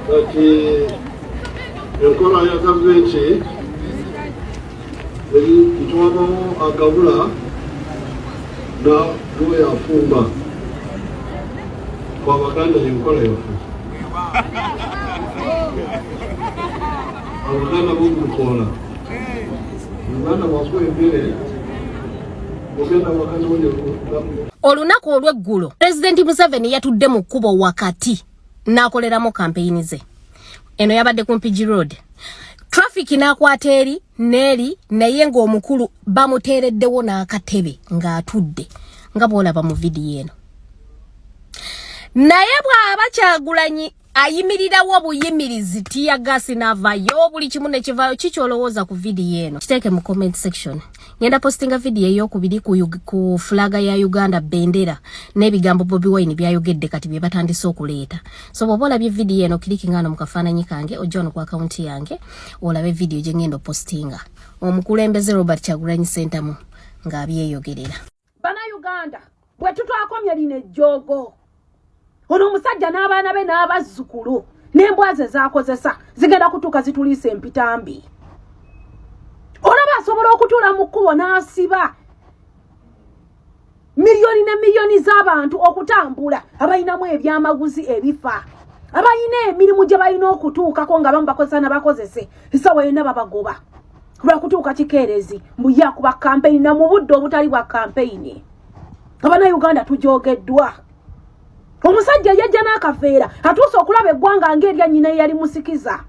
kati enkola ya gavumenti eri itwabawo agabula na lweyafumba kwa baganda yenkola yaffe abaganda bomukola uganda wakwembere Olunaku olw'eggulo pulezidenti Museveni yatudde mu kkubo wakati n'akoleramu kampeyini ze. Eno yabadde ku Mpigi Road. Traffic n'akwata eri n'eri naye ng'omukulu bamuteereddewo n'akatebe ng'atudde nga bw'olaba mu vidiyo eno. Naye bw'aba Kyagulanyi ayimirirawo buyimirizi tiya gasi navayo buli kimu nekivayo kiki olowooza ku vidiyo eno kiteeke mu comment section ngenda postinga vidiyo eyokubiri ku, ku fulaga ya uganda bendera n'ebigambo bobi wine byayogedde kati bye batandise okuleeta so bwoba olabye vidiyo eno kiriki ngaano mu kafaananyi kange ojja wano ku akawunti yange olabe vidiyo gye ngenda opostinga omukulembeze robert kyagulanyi sentamu ng'abyeyogerera bana uganda bwe tutwakomye lino ejjoogo ono omusajja n'abaana be n'abazzukulu n'embwa ze zaakozesa zigenda kutuuka zituliisa empitambi olaba asobola okutuula mu kkubo n'asiba miliyoni ne miliyoni z'abantu okutambula abalinamu ebyamaguzi ebifa abalina emirimu gye balina okutuukako nga bamu bakozesa nabakozese esawa yonna babagoba lwakutuuka kikeerezi mbu yakuba kampeyini na mu budde obutali bwa kampeyini abana uganda tujogeddwa omusajja yajja n'akaveera atuuse okulaba eggwanga ngaerya nyina eyali musikiza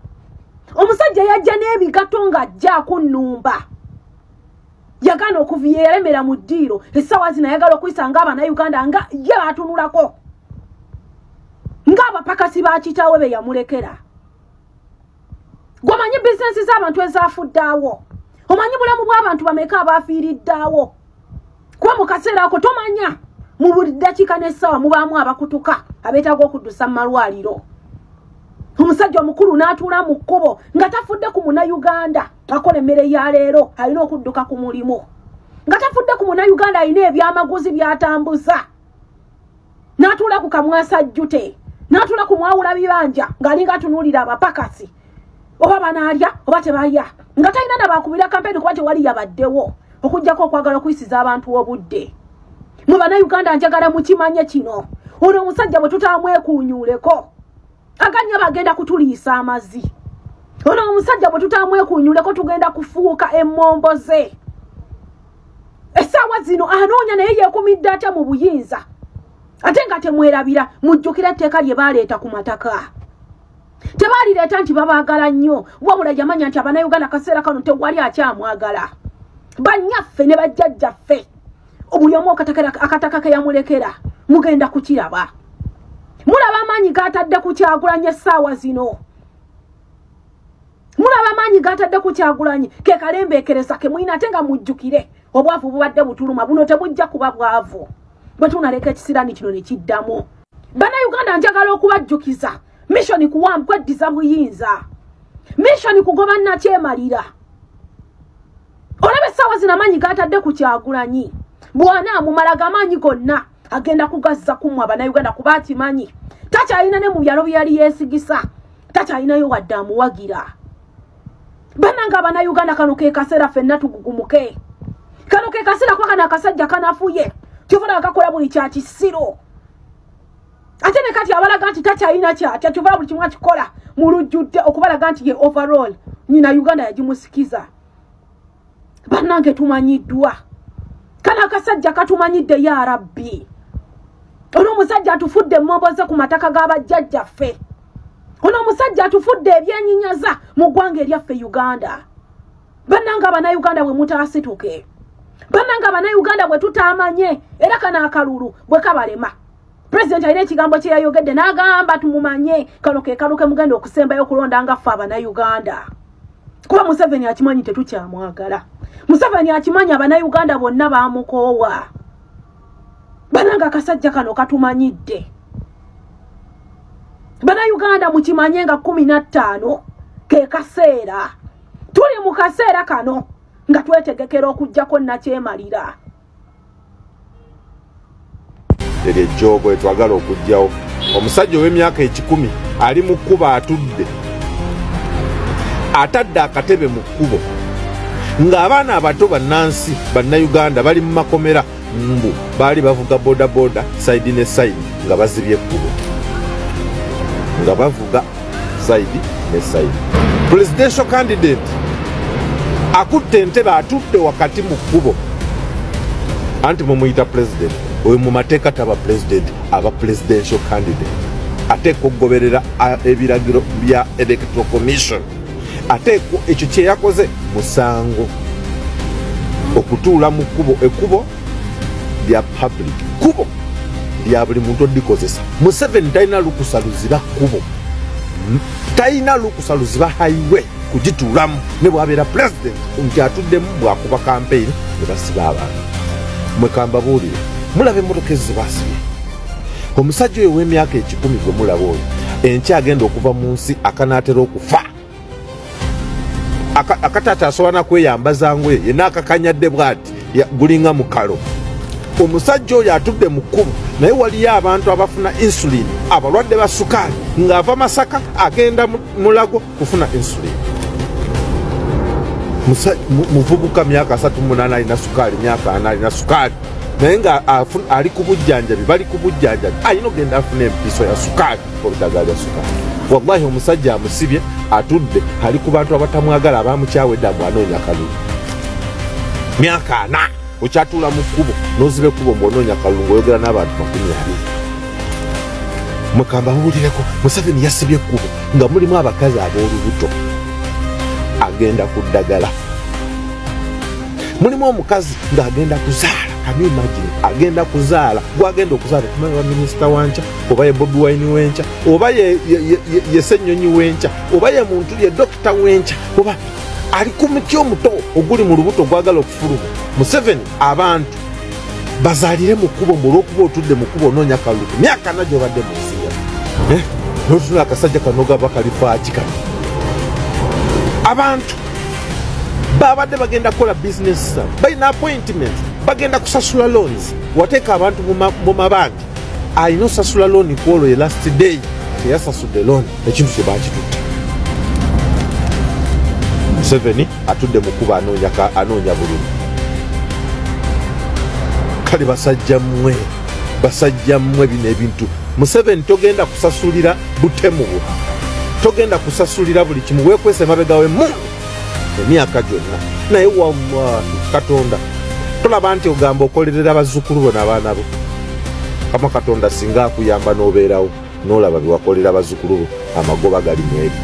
omusajja yajja n'ebigato ng'ajja akunnumba yagaana okuviya eyaremera mu ddiiro essaawa zino ayagala okuyisa nga abana uganda nga ye baatunulako ng'abapakasi ba kitaawe be yamulekera gwamanyi bizinesi z'abantu ezafuddeawo omanyi bulamu bw'abantu bameka abaafiiriddaawo kuba mu kaseera ako tomanya mu buli ddakiika n'essaawa mubaamu abakutuka abeetaaga okuddusa mu malwaliro omusajja omukulu n'atuula mu kkubo nga tafudde ku munayuganda akola emmere ya leero alina okudduka ku mulimu nga tafudde ku munayuganda alina ebyamaguzi by'atambuza natuula ku kamwasa jjute natuula ku mwawula bibanja ng'alinga atunuulira abapakasi oba banaalya oba tebalya nga talina nabakubira kampeni kuba tewali yabaddewo okugyako okwagala okuyisiza abantu obudde mwe banauganda njagala mukimanye kino ono omusajja bwe tutamwekuunyuuleko aganya bagenda kutuliisa amazi ono omusajja bwe tutamwekunyuleko tugenda kufuuka emmombo ze essaawa zino anoonya naye yeekumidde atya mu buyinza ate nga temwerabira mujjukira etteeka lye baaleeta ku mataka tebaalireeta nti babaagala nnyo wabula yamanya nti abanauganda kaseera kano tewali akyamwagala bannyaffe ne bajjajjaffe buli omu akataka ke yamulekera mugenda kukiraba mulaba amaanyi gatadde ku kyagulanyi essaawa zino mulaba amaanyi gatadde ku kyagulanyi ke kalembeekereza ke mulina ate nga mujjukire obwavu bubadde butuluma buno tebujja kuba bwavu bwe tunaleka ekisiraani kino ne kiddamu bannayuganda njagala okubajjukiza mishoni kuwambu kweddiza buyinza mishoni kugoba nakyemalira olaba essaawa zino amaanyi gaatadde ku kyagulanyi bwana amumala gamaanyi gonna agenda kugazza kumwa banauganda kuba akimanyi takyalina ne mu byalo bye yali yeesigisa takyalinayo wadde amuwagira bananga abanauganda kano ke kaseera fenna tugugumuke kano ke kaseera kuba kano akasajja kanafuye kyovana akakola buli kya kisiro ate ne kati abalaga nti takyalina kyatya kyovana buli kimu akikola mu lujjudde okubalaga nti ye overall nyina uganda yagimusikiza bannange tumanyiddwa kano akasajja katumanyidde ya rabbi ono omusajja atufudde emmoboze ku mataka g'abajjajjaffe ono omusajja atufudde ebyenyinyaza mu ggwanga eryaffe uganda bannanga abanauganda bwe mutaasituke bannanga abanauganda bwe tutaamanye era kano akalulu bwe kabalema president alina ekigambo kye yayogedde n'agamba tumumanye kano ke kaluke mugenda okusembayo okulonda nga ffe abanauganda kuba museveni akimanyi tetukyamwagala museveni akimanyi abanauganda bonna bamukoowa bananga akasajja kano katumanyidde banauganda mukimanye nga kumi na ttaano ke kaseera tuli mu kaseera kano nga twetegekera okugyako nakyemalira eryo ejjoogo etwagala okugyawo omusajja ow'emyaka ekikumi ali mu kkubo atudde atadde akatebe mu kkubo ng'abaana abato bannansi bannayuganda bali mu makomera mbu baali bavuga bodaboda saidi ne saidi nga bazibye ekkubo nga bavuga sayidi ne sayidi presidential candidate akutte entebe atudde wakati mu kkubo anti mumuyita president oyo mu mateeka taba president aba presidential candidate ateeka okugoberera ebiragiro bya electoral commission ate ekyo kyeyakoze musango okutuula mu kkubo ekkubo lya public kubo lya buli muntu odikozesa museveni talina lukusa luziba kubo talina lukusa luziba highway kugituulamu ne bwabeera president nti atuddemu bwakuba kampeyini ne basiba abantu mwekambabuulire mulaba emotoka ezo zebasibye omusajja oyo w'emyaka ekikumi gwe mulaba oyo enkya agenda okuva mu nsi akanaatera okufa akatata asobola nakweyambaza ngoye yena akakanyadde bwati gulinga mukalo omusajja oyo atudde mu kkubo naye waliyo abantu abafuna insulin abalwadde ba sukaali ng'ava masaka agenda mulago kufuna insulin muvubuka myaka asatu munana alina sukaali myaka ana alina sukaali naye nga ali ku bujjanjabi bali ku bujjanjabi alina ogenda afuna empiso ya sukaali wallahi omusajja amusibye atudde ali ku bantu abatamwagala abamukyawedde mbu anoonya kalulu myaka ana okyatuula mu kkubo noziba ekkubo mbu onoonya kalulu ngaoyogera n'abantu makumi abiri mukamba muwulireko museveni yasibye ekkubo nga mulimu abakazi ab'olubuto agenda ku ddagala mulimu omukazi ng'agenda kuzaala kamimagine agenda kuzaala gwagenda okuzaala okumanya wa minisita wankya oba ye bobi wine wenkya oba yesenyonyi wenkya oba ye muntu ye dokita wenkya oba ali ku muti omuto oguli mu lubuto ogwagala okufuluma museveni abantu bazalire mu kkubo mbu olwokuba otudde mu kkubo onoonya kalulu ku myaka na gyobadde mu nsi ya eh, notuna akasajja kano gaba kalifaaki kano abantu babadde bagenda kukola bizinesi zabo balina appointment bagenda kusasula loans wateeka abantu mu mabanja alina osasula looni ku olwo ye last day teyasasudde looni ekintu kye baakitutte museveni atudde mu kuba anoonya bululu kale basajja mmwe basajja mmwe bino ebintu museveni togenda kusasulira butemu bwo togenda kusasulira buli kimu wekwese emabega wemu emyaka gyonna naye wallahi katonda tolaba nti ogamba okolerera bazzukulu bo nabaana bo kama katonda singa akuyamba nobeerawo nolaba byewakolera bazzukulu bo amagoba gali mwebyo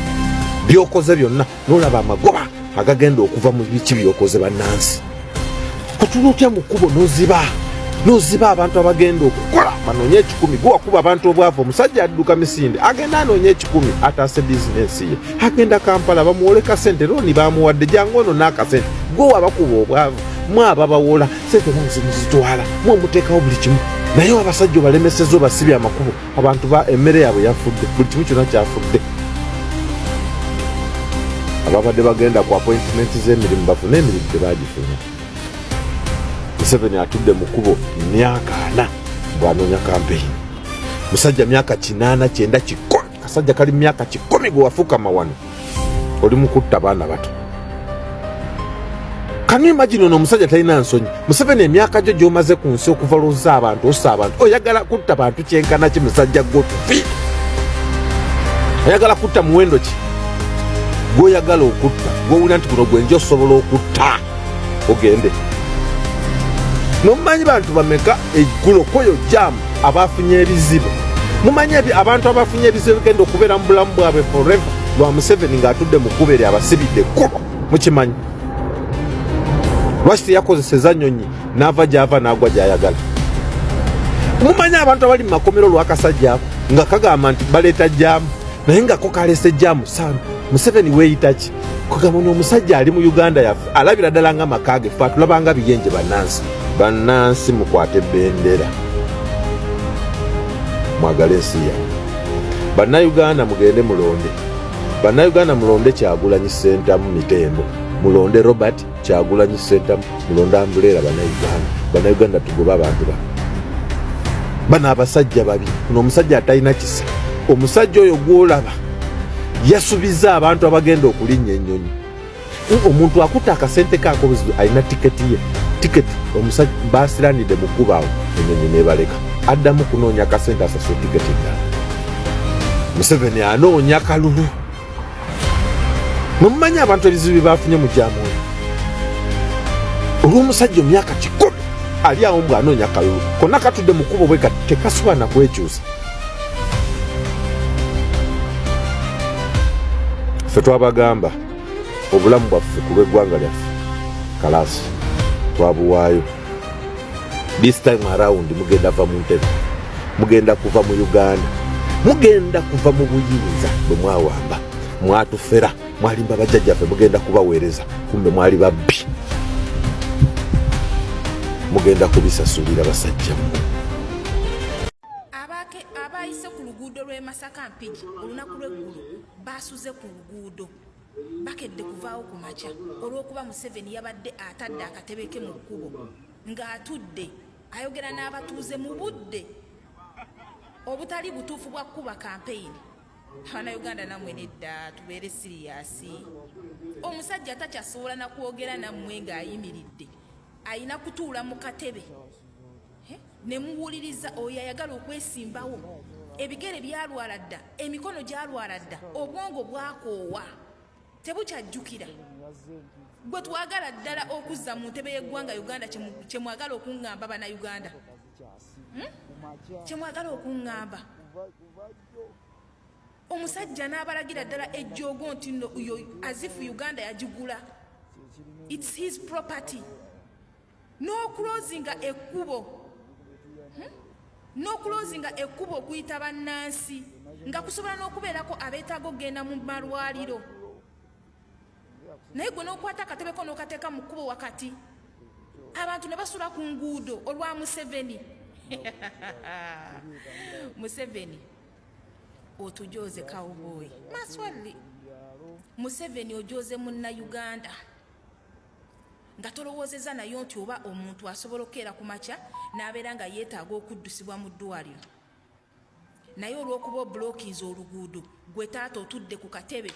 byokoze byonna nolaba amagoba agagenda okuva mu biki byokoze bannansi otula otya mu kkubo noziba noziba abantu abagenda okukola banonye ekikumi gwewakuba abantu obwavu omusajja adduka misinde agenda anonye ekikumi ataase bizinensi ye agenda kampala bamuwoleka sente looni bamuwadde jangu ono n'akasente gwewa bakuba obwavu mwaba bawola sente nazo muzitwala mwe muteekawo buli kimu naye abasajja obalemeseza obasibye amakubo abantu ba emmere yaabwe yafudde buli kimu kyona kyafudde ababadde bagenda ku appointment z'emirimu bafune emirimu tebagifuna museveni atudde mu kubo myaka ana bwanoonya kampeyini musajja myaka kinaana kyenda kikumi kasajja kali myaka kikumi gwe wafukama wano oli mukutta baana bato kanu imagine ono omusajja talina nsonyi museveni emyaka gyo gyomaze ku nsi okuva lwoza abantu osa abantu oyagala kutta bantu kyenkana ki musajja gwo tufi oyagala kutta muwendo ki gwoyagala okutta gwowulira nti guno gwenja osobola okutta ogende nomumanyi bantu bameka egulo kweyo jamu abafunye ebizibu mumanyi abantu abafunye ebizibu bigenda okubeera mu bulamu bwabwe forever lwa museveni ngaatudde mu kkuba eri abasibidde ekkubo mukimanyi lwaki teyakozeseza nyonyi naava gyava naagwa gyayagala mumanyi abantu abali mu makomero lwakasajja nga kagamba nti baleeta jamu naye ngako kaleese jamu sana museveni weeyitaki kugamba no omusajja ali mu uganda yaffe alabira ddala nga maka ge fe atulabanga biyenje bannansi bannansi mukwate bendera mwagale ensi yamwe bannayuganda mugende mulonde bannayuganda mulonde kyagulanyi sentamu mitembo mulonde robert kyagulanyi sentamu mulonda mbuleera banauganda banauganda tugoba abantu ba bano abasajja babi no omusajja atalina kisa omusajja oyo gwolaba yasubiza abantu abagenda okulinnya ennyonyi omuntu akuta akasente kakobuzibu alina tiketi ye tiketi omusajja basiranide mukubaawo enyonyi nebaleka addamu kunoonya akasente asasula tiketi endala museveni anoonya kalulu mwe mumanyi abantu ebizibu bye baafunye mu gyamwoyo olw'omusajja omyaka kikumi ali awo mbw anoonya kalulu konna katudde mu kkubo bwe kati tekasubana kwekyusa ffe twabagamba obulamu bwaffe ku lw'eggwanga lyaffe kalaasi twabuwaayo this time around mugenda va mu ntebe mugenda kuva mu uganda mugenda kuva mu buyinza bwe mwawamba mwatufera mwalimba bajjajjaffe mugenda kubaweereza kumbe mwali babbi mugenda kubisasulira basajja mmwe abayise ku luguudo lw'e masaka mpigi olunaku lw'eggulu baasuze ku luguudo bakedde kuvaawo ku makya olw'okuba museveni yabadde atadde akatebe ke mu kkubo ng'atudde ayogera n'abatuuze mu budde obutali butuufu bwa kukuba kampeyini abana uganda namwe nedda tubeere siriyasi omusajja atakyasobola nakwogera nammwe ng'ayimiridde ayina kutuula mu katebe ne muwuliriza oyo ayagala okwesimbawo ebigere byalwala dda emikono gyalwala dda obwongo bwakoowa tebukyajjukira gwe twagala ddala okuzza mu ntebe y'eggwanga uganda kyemwagala okuŋŋamba banauganda hmm? kyemwagala okuŋŋamba omusajja n'abalagira ddala ejjoogo nti no azifu uganda yagigula its his property n'okulozinga ekkubo hmm? n'okulozinga ekkubo okuyita bannansi nga kusobola n'okubeerako abeetaaga okugenda mu malwaliro naye gwe n'okwata akatebeko n'okateeka mu kkubo wakati abantu ne basula ku nguudo olwa museveni museveni otujooze kawubooyi maswalli museveni ojooze munna uganda nga tolowoozezza nayo nti oba omuntu asobola okukeera ku makya n'abeera nga yeetaaga okuddusibwa mu ddwaliro naye olw'okuba obulokinzi oluguudo gwe taata otudde ku katebe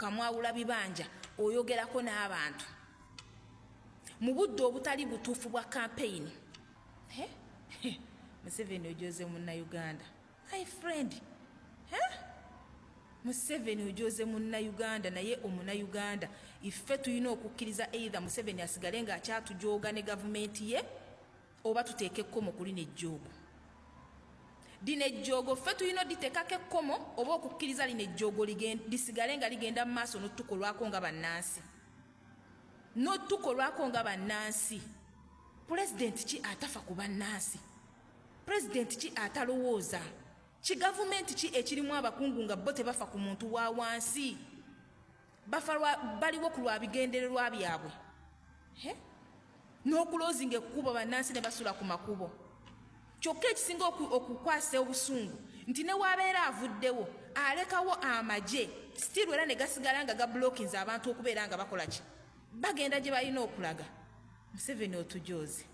kamwawula bibanja oyogerako n'abantu mu budde obutali butuufu bwa kampeyini museveni ojoze munnauganda my friend huh? museveni ojoze munnayuganda naye omunayuganda iffe tulina okukkiriza eitha museveni asigale nga akyatujooga ne gavumenti ye oba tuteeka ekkomo ku lino ejjoogo lino ejjoogo ffe tulina oditeekako ekkomo oba okukkiriza lino ejjoogo lisigale nga ligenda mu maaso notukolwako nga bannansi notukolwako nga bannansi pulezidenti ki atafa ku bannansi pulezidenti ki atalowooza kigavumenti ki ekirimu abakungu nga bo tebafa ku muntu wa wansi bafa baliwo ku lwa bigendererwa byabwe n'okuloozinga ekkubo bannansi ne basula ku makubo kyokka ekisinga okukwasa obusungu nti ne waabeera avuddewo alekawo amagye sitiiru era ne gasigala nga gabulokinze abantu okubeera nga bakola ki bagenda gye balina okulaga museveni otujoozi